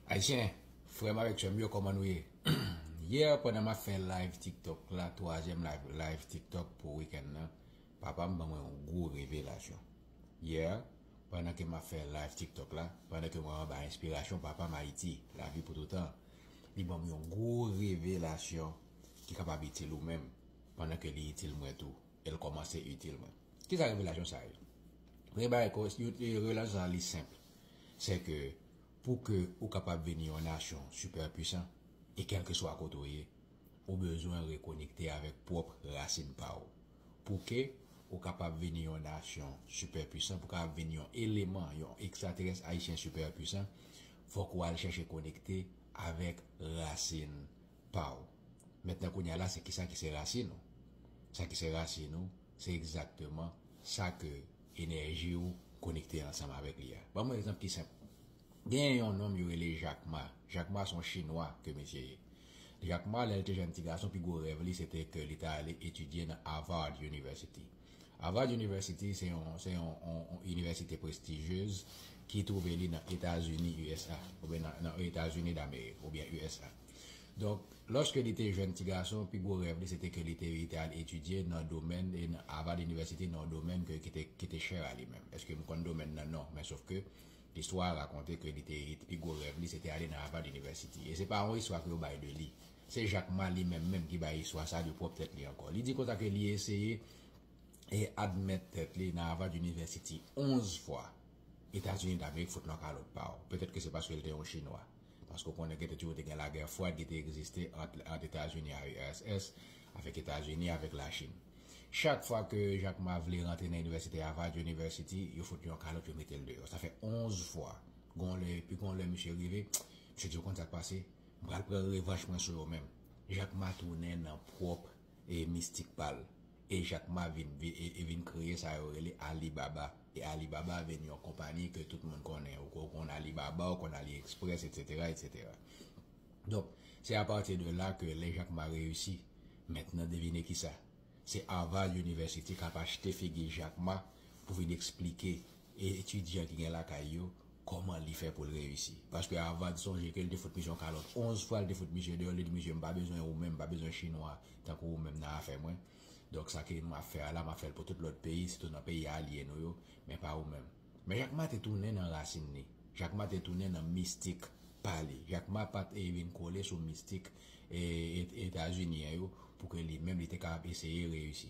Ayisyen, frè m avèk sè m yo kòman nou ye? Yè pandan m ap fè live tiktok la, twazyèm live tiktok pou wikèn nan, papa m ban mwen yon gwo revelasyon. Yè pandan ke m ap fè live tiktok la, pandan ke mwen anba enspirasyon papa m Ayiti, lavi pou toutan, li ban m yon gwo revelasyon ki kapab itil ou menm pandan ke li itil mwen tou e l kòmanse itil mwen. Kisa revelasyon sa ye? Premye bagay, revelasyon sa li senp, sè ke pou ke ou kapab vini yon nasyon sipè pwisan e kèlkeswa kote ou ye, ou bezwen rekonekte avèk pwòp rasin pa ou. Pou ke ou kapab vini yon nasyon sipè pwisan, pou kapab vini yon eleman, yon ekstraterès ayisyen sipè pwisan, fòk ou al chèche konekte avèk rasin pa ou. Mentnan kounye a la se kisa ki se rasin ou? Sa ki se rasin ou? Se egzakteman sa ke enèji ou konekte ansanm avèk li a. Ban m yon egzanp ki senp. Genyen yon nonm yo rele Jak Ma. Jak Ma se yon chinwa ke misye ye. Jak Ma, lè l te jenn ti gason, pi gwo rèv li se te ke li ta ale etidye nan Harvard University. Harvard University se yon se yon yon inivèsite prestijyez ki twouve li nan Etazini, usa, oubyen nan Etazini Damerik, oubyen usa. Donk, lòske li te jèn tigason, pi gwo rèv li se te ke li te li te al etidye nan domèn Harvard University nan yon domèn ke ki te chè a li menm. Eske m konn domèn nan? Non. Men sof ke istwa a rakonte ke li te li te pi gwo rèv li se te ale nan Harvard University. E se pa yon istwa ke yo bay de li. Se Jack Ma li menm menm ki bay istwa sa a de pwòp tèt li ankò. Li di konsa ke li eseye e admèt tèt li nan Harvard University 11 fwa. Etazini Damerik fout l an kalòt pa w. Petèt ke se paske li te yon Chinwa. Paske ou konnen gete toujou te gen lagè fwad ki te egziste ant Etazini a URSS avèk Etazini avèk Lachin. Chak fwa ke Jacques Ma vle rantre nan Inivèsite Harvard University, yo fout li yon kalòt yo mete l deyò. Sa fè 11 fwa. Gon lè, epi gon lè misye rive, misye di ou konn sa k pase? M pral pran revanch mwen sou yo menm. Jacques Ma tounen nan pwòp e mistik pa l, e Jack Ma vin e vin kreye sa yo rele Alibaba, e Alibaba vin yon konpani ke tout moun konnen, ou konn Alibaba, ou konn AliExpress etc. Etc. Donk, se apati de la ke lè Jack Ma reyisi, mentnan devine kisa? Se Harvard University kap achte figi Jack Ma pou vin eksplike E etidyan ki gen lakay yo, kòman li fè pou l reyisi? Paske Avad sonje ke li te fout misye yon kalòt onz fwa, li te fout misye deyò, li di misye, m pa bezwen ou menm, m pa bezwen chinwa tankou ou menm nan afè mwen. Donk sa ke m ap fè a la, m ap fè l pou tout lòt peyi, sitou nan peyi alye nou yo, men pa ou menm. Men Jak Ma te tounen nan rasin li. Jak Ma te tounen nan mistik pa li. Jak Ma pa t e vin kole sou mistik e Etazinyen yo pou ke li menm li te kapab eseye reyisi.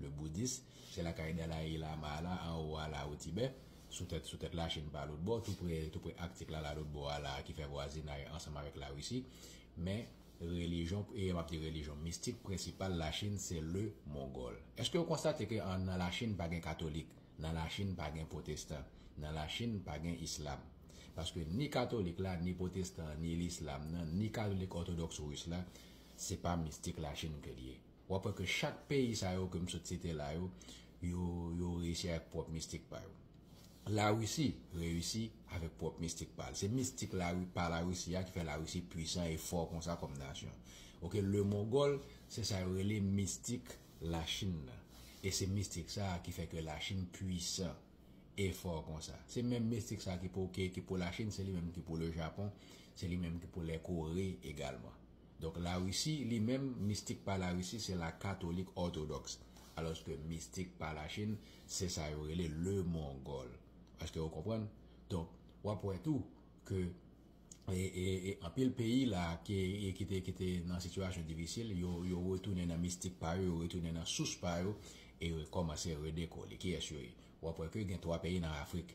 Le Boudis, se lakay Dalaï Lama a la, anwo a la, o Tibè, sou tèt sou tèt Lachin pa lotbò, toupre toupre Aktik la la lotbò a la a ki fè vwazinay ansanm avèk Larisi. Men, relijyon, e m ap di relijyon, mistik prensipal Lachin se le Mongòl. Èske ou konstate ke an nan Lachin pa gen katolik, nan Lachin pa gen pwotestan, nan Lachin pa gen islam? Paske ni katolik la, ni pwotestan an, ni lislam nan, ni katolik òtodòks ris la, se pa mistik Lachin ke li ye. W ap wè ke chak peyi sa yo ke m sot site la yo, yo, yo reyisi avèk pwòp mistik pa yo. Larisi reyisi avèk pwòp mistik pa l. Se mistik Lari, pa Larisi a ki fè Larisi pwisan e fò konsa kòm nasyon. Ok, le Mongòl, se sa yo rele mistik Lachin nan. E se mistik sa a ki fè ke Lachin pwisan e fò konsa. Se menm mistik sa a ki pou, ki pou Lachin, se li menm ki pou le Japon, se li menm ki pou lè Kore egalman. Donk la Risi li menm mistik pa la Risi se la katolik òtodoks alòske mistik pa la Chin se sa yo rele le mongòl èske ou konprann donk wap wè tou ke e anpil peyi la ke kite kite nan sitiyasyon difisil yo yo retounen nan mistik pa yo yo retounen nan sous pa yo e rekòmanse redekole kiyès yo ye wap wè ke gen 3 peyi nan afrik.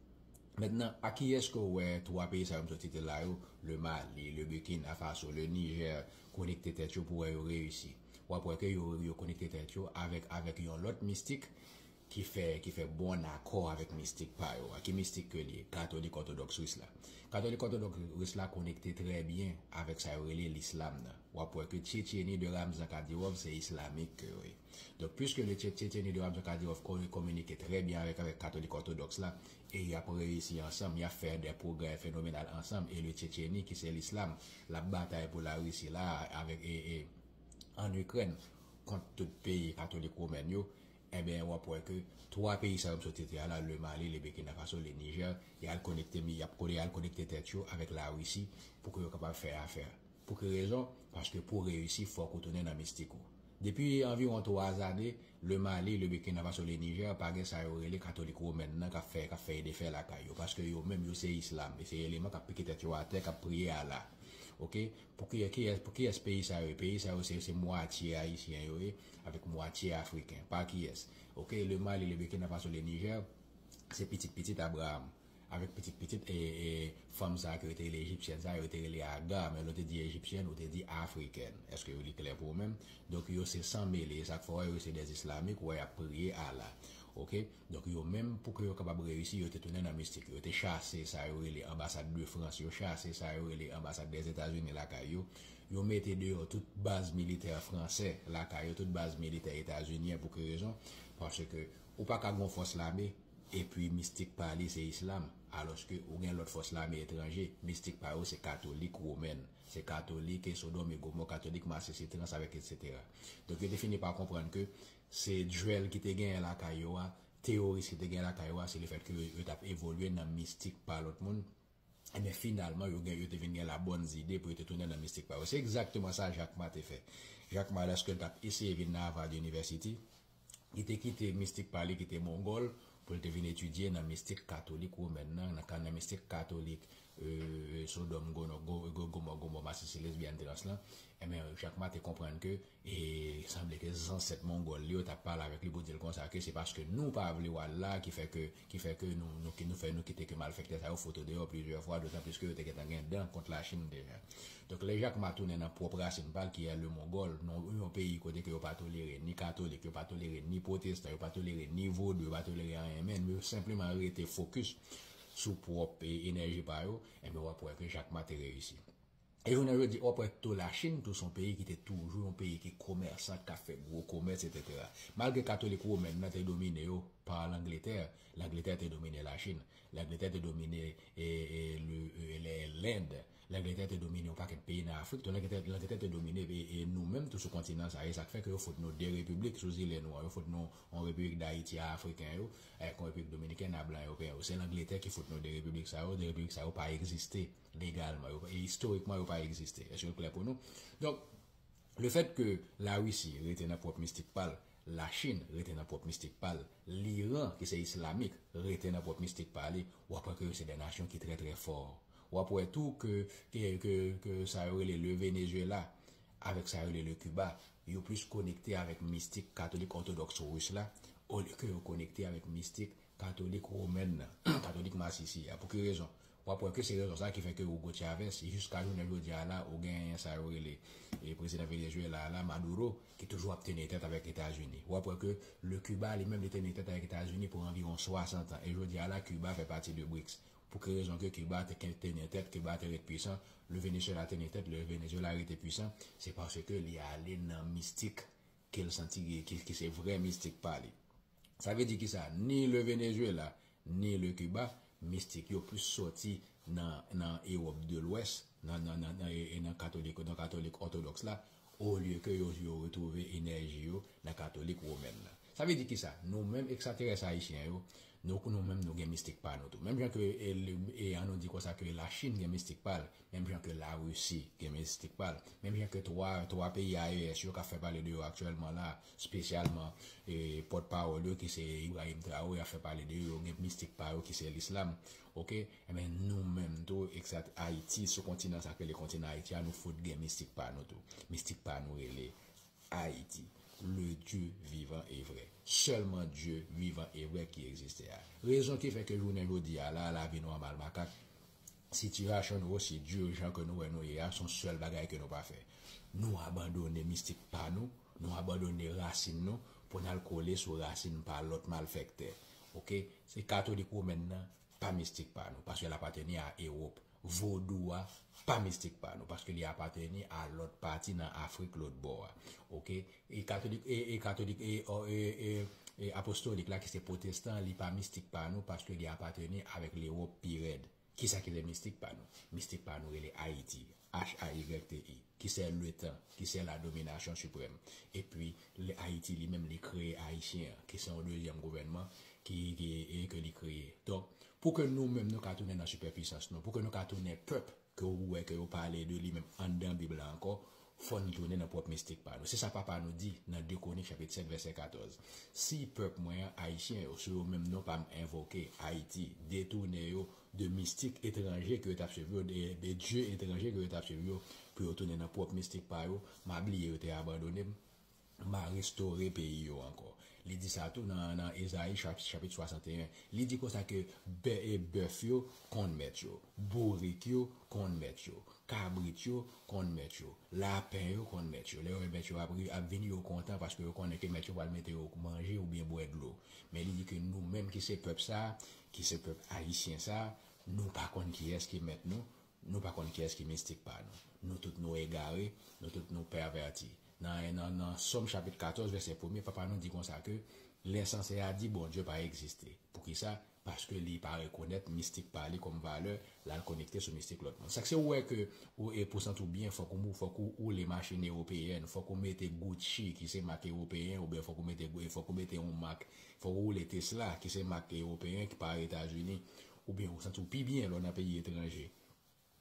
Mentnan, a kiyès ke w wè twa peyi sa yo m sot site la yo, Le Mali, Le Burkina Faso, Le Niger, konekte tèt yo pou wè yo reyisi? W ap wè ke yo yo konekte tèt yo avèk avèk yon lòt mistik ki fè ki fè bòn akò avèk mistik pa yo a. Ki mistik ke li ye? Katolik òtodòks ris la. Katolik òtodòks ris la konekte trè byen avèk sa yo rele Lislam nan. W ap wè ke Tchyetcheni de Ramzan Kadyrov se islamik ke yo ye. Donk pwiske le Tchetche tenu de Ramzan Kadyrov kore kominike trè byen avèk avèk Katolik Òtodoks la e y ap reyisi ansanm, y ap fè dè pwogrè fenomenal ansanm e le Tchetcheni ki se lislam l ap batay pou Larisi la a avèk e e ann Ikrèn kont tout peyi Katolik Womèn yo enben w ap wè ke 3 peyi sa yo m sot site a la, le Mali, le Bekina Faso, le Nijè y al konekte mi y ap kole y al konekte tèt yo avèk Larisi pou ke yo kapab fè afè. Pou ki rezon? Paske pou w reyisi fòk ou tounen nan mistik ou. Depi anviwon 3 zane, le Mali, le Burkina Faso, le Niger pa gen sa yo rele katolik women nan kap fè kap fè e defè lakay yo paske yo menm yo se islam e se eleman kap pike tèt yo atè kap priye Allah ok pou kiyè kiyès pou kiyès peyi sa yo ye peyi sa yo se se mwatye ayisyen yo ye avèk mwatye afriken pa kiyès ok le Mali, le Burkina Faso, le Niger se pitit pitit Abraham Avèk pitit pitit e fanm sa a ke yo te rele Ejipsyèn sa a, yo te rele Agar, men lè w te di Ejipsyèn, ou te di Afrikèn. Èske yo li klè pou ou menm? Donk yo se san mele, e sa k fè w wè yo se dè Islamik, ou wè y ap priye Allah. Ok. Donk yo menm, pou ke yo kapab reyisi, yo te tounen nan mistik. Yo te chase sa yo rele anbasad de Frans, yo chase sa yo rele anbasad dè Etazini lakay yo. Yo mete deyò tout baz militè fransè lakay yo, tout baz militè etazinyen. Pou ki rezon? Paske. Ou pa ka gen yon fòs lame epi mistik pa li se islam, alòske ou gen lòt fòs lame etranje, mistik pa yo se katolik womèn, se katolik e sodòm e gomò, katolik masisi trans avèk etsetera. Donk yo te fini pa konprann ke se duel ki te genyen lakay yo a, teyoris ki te genyen lakay yo a se lefèt ke yo t ap evolye nan mistik pa lòt moun, Enben, finalman, yo gen, yo te vin gen la bonne idée pou yo te tounen nan mistik pa yo. Se egzakteman sa Jack Ma te fè. Jack Ma, lèske l t ap eseye vin nan Harvard University, li te kite mistik pa li ki te Mongòl pou l te vin etidye nan mistik katolik womèn nan, nan ka nan mistik katolik Sodòm, Gomò, Masisi, Lesbyèn, Trans lan. Enben, Jack Ma te konprann ke E li sanble ke zansèt Mongòl li yo ta pale avèk li pou di l konsa ke se paske nou pa vle w al la ki fè ke ki fè ke nou nou ki nou fè nou kite ke malfèktè sa yo fout ou deyò plizyè fwa dotan plis ke yo te gentan gen dan kont Lachin deja. Donk lè Jakma tounen nan pwòp rasin pa l ki è le Mongòl, non yon peyi kote ke yo pa tolere ni katolik, yo pa tolere ni pwotestan, yo pa tolere ni vodou, yo pa tolere anyen menn, yo senpleman rete fokis sou pwòp enèji pa yo, enben w ap wè ke Jakma te reyisi. E jounen jodi a prèt tou Lachin tou son peyi ki te toujou yon peyi ki komèsan, kap fè gwo komès etetera. Malgre katolik women nan te domine yo pa Langletè, Langletè te domine Lachin, Langletè te domine Lend, Langletè te domine yon pakèt peyi nan Afrik tou, Langletè te domine nou menm tou sou kontinan sa, e sak fè ke yo fout nou 2 repiblik sou zile nou an, yo fout nou yon repiblik Dayiti a Afriken yo, ak yon repiblik Dominikèn a blan Ewopeyen yo. Se Langletè ki fout nou 2 repiblik sa yo, 2 repiblik sa yo pa egziste. Legalman yo e istorikman yo pa egziste. Èske l klè pou nou? Donk, lefèt ke Larisi rete nan pwòp mistik pa l, Lachin rete nan pwòp mistik pa l, Liran ki se islamik rete nan pwòp mistik pa li, w ap wè ke yo se de nasyon ki trè trè fò. W ap wè tou ke, ke, ke, ke sa yo rele le Venezuela avèk sa yo rele le Kiba, yo plis konekte avèk mistik katolik òtodòks ris la olye ke yo konekte avèk mistik Katolik Women nan, Katolik Masisi a. Pou ki rezon? W ap wè ke se rezon sa a ki fè ke Hugo Chavez, jiska jounen jodi a la, ou genyen sa yo rele prezidan Venezuela a la, Maduro, ki toujou ap teni tèt avèk Etazini. W ap wè ke le Cuba li menm li teni tèt avèk Etazini pou anviwon 60 an. E jodi a la, Cuba fè pati de BRICS. Pou ki rezon ke Cuba te kèn teni tèt, Cuba te ret pwisan, le Venezuela teni tèt, le Venezuela rete pwisan, se paske li ale nan mistik ke l santi, ki se vrè mistik pa li. Sa vle di ki sa? Ni le Venezuela, ni le Cuba, mistik yo plis soti nan Ewòp de Lwès, nan katolik òtodòks la, olye ke yo retwouve enèji yo nan katolik womèn la. Sa vle di ki sa? Nou menm ekstraterès ayisyen yo, nou menm nou gen mistik pa nou tou. Menm jan ke, an nou di konsa ke la Chin gen mistik pa l, menm jan ke la Risi gen mistik pa l, menm jan ke 3 peyi AES yo kap fè pale de yo aktyèlman la a, spesyalman pòt pawòl yo ki se Ibrahim Traore ya fè pale de yo, yo gen mistik pa yo ki se l'islam ok, enben nou menm tou exat Haïti sou kontinan sa ki rele kontinan Haïti ya nou fout gen mistik pa nou tou, mistik pa nou rele Haïti le Dieu vivant et vrai sèlman Dieu vivant et vrai ki existe ya rezon ki fè ke jounen jodi ya la lavi nòmal makak Sitiyasyon nou osi dur jan ke nou wè nou ye a, son sèl bagay ke nou pa fè. Nou abandone mistik pa nou, nou abandone rasin nou pou nal kole sou rasin pa lòt malfèktè. Ok, se katolik women nan pa mistik pa nou, paske lapateni a Ewop. Vodou a pa mistik pa nou, paske li apateni a lòt pati nan Afrik lotbò a. Ok, E katolik e e katolik e o e e e apostolik la ki se pwotestan li pa mistik pa nou paske li apateni avèk lewop pi rèd kisa ki le mistik pa nou mistik pa nou rele ayiti h-a-y-t-i ki se le tan ki se la dominasyon siprèm epi le ayiti li menm li kreye ayisyen an ki se yon dezyèm gouvènman ki ki e ke li kreye donk pou ke nou menm nou ka tounen nan sipèpisans nou pou ke nou ka tounen pèp ke ou wè ke yo pale de li menm anndan Bib la ankò, fò n tounen nan pwòp mistik pa nou. Se sa Papa nou di nan 2 Kwonik chapit 7 vèsè 14, Si pèp mwen an, Ayisyen yo, sou yo menm non pa m envoke, Ayiti, detounen yo de mistik etranje ke yo t ap suiv yo, de dye etranje ke yo t ap suiv yo, pou yo tounen nan pwòp mistik pa yo, m a bliye yo te abandone m. M a restore peyi yo ankò. Li di sa tou nan Ezayi chapit 61. Li di konsa ke bèf yo konn mèt yo, bourik yo konn mèt yo, kabrit yo konn mèt yo, lapen yo konn mèt yo. Lè yo wè mèt yo ap vini, yo kontan paske yo konnen ke mèt yo pral mete yo manje oubyen bwè dlo. Men li di ke nou menm ki se pèp sa, ki se pèp ayisyen sa, nou pa konn kiyès ki mèt nou, Nou pa konn kiyès ki mistik pa nou. Nou tout nou egare, nou tout nou pèvèti. Nan nan Sòm chapit 14 vèsè premye, Papa nou di konsa ke, Lè ensanse a di Bondye pa egziste. Poukisa? Paske li pa rekonèt mistik pa li kòm valè, l al konekte sou mistik lòt moun. Sa k se ou wè ke ou e pou santi w byen fòk ou fòk ou woule machin ewopeyèn, fòk ou mete Gucci ki se mak ewopeyen oubyen fòk ou mete fòk ou mete yon mak, fòk ou woule Tesla ki se mak ewopeyen ki pa Etazini. Oubyen ou santi w pi byen lè w nan peyi etranje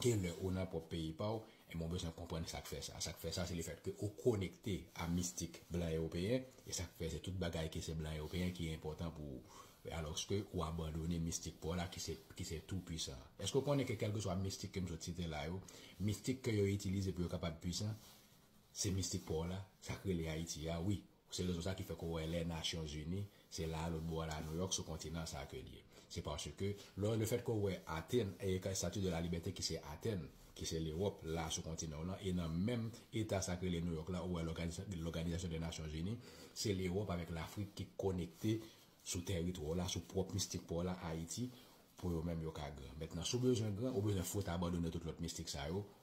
ke lè ou nan pwòp peyi pa w, enben w bezwen konprann sa k fè sa. Sa k fè sa se lefètke ou konekte a mistik blan ewopeyen, e sa k fè se tout bagay ki se blan ewopeyen ki enpòtan pou ou, alòske ou abandone mistik pa w la ki se tou pwisan an. Èske w konnen ke kèlkeswa mistik ke m sot site la yo, mistik ke yo itilize pou yo kapab pwisan, se mistik pa w la, sa k rele Ayiti a wi. Se rezon sa ki fè ke w wè lè Nasyonzini, se la a lòt bò a la Nouyòk, sou kontinan sa a ke l ye. Se paske, lò, lefèt ke w wè Atèn, Statue de la Liberté ki se Atèn, ki se Lewòp, la a sou kontinan w lan, e nan menm eta sa ki rele Nouyòk la, ou wè Lòganizasyon dè Nasyonzini, se Lewòp avèk Lafrik ki konekte sou tèritwa w la, sou pwòp mistik pa w la, Ayiti, pou yo menm yo ka gran. Mentnan, si w bezwen gran, ou bezwen fout abandone tout lòt mistik sa yo,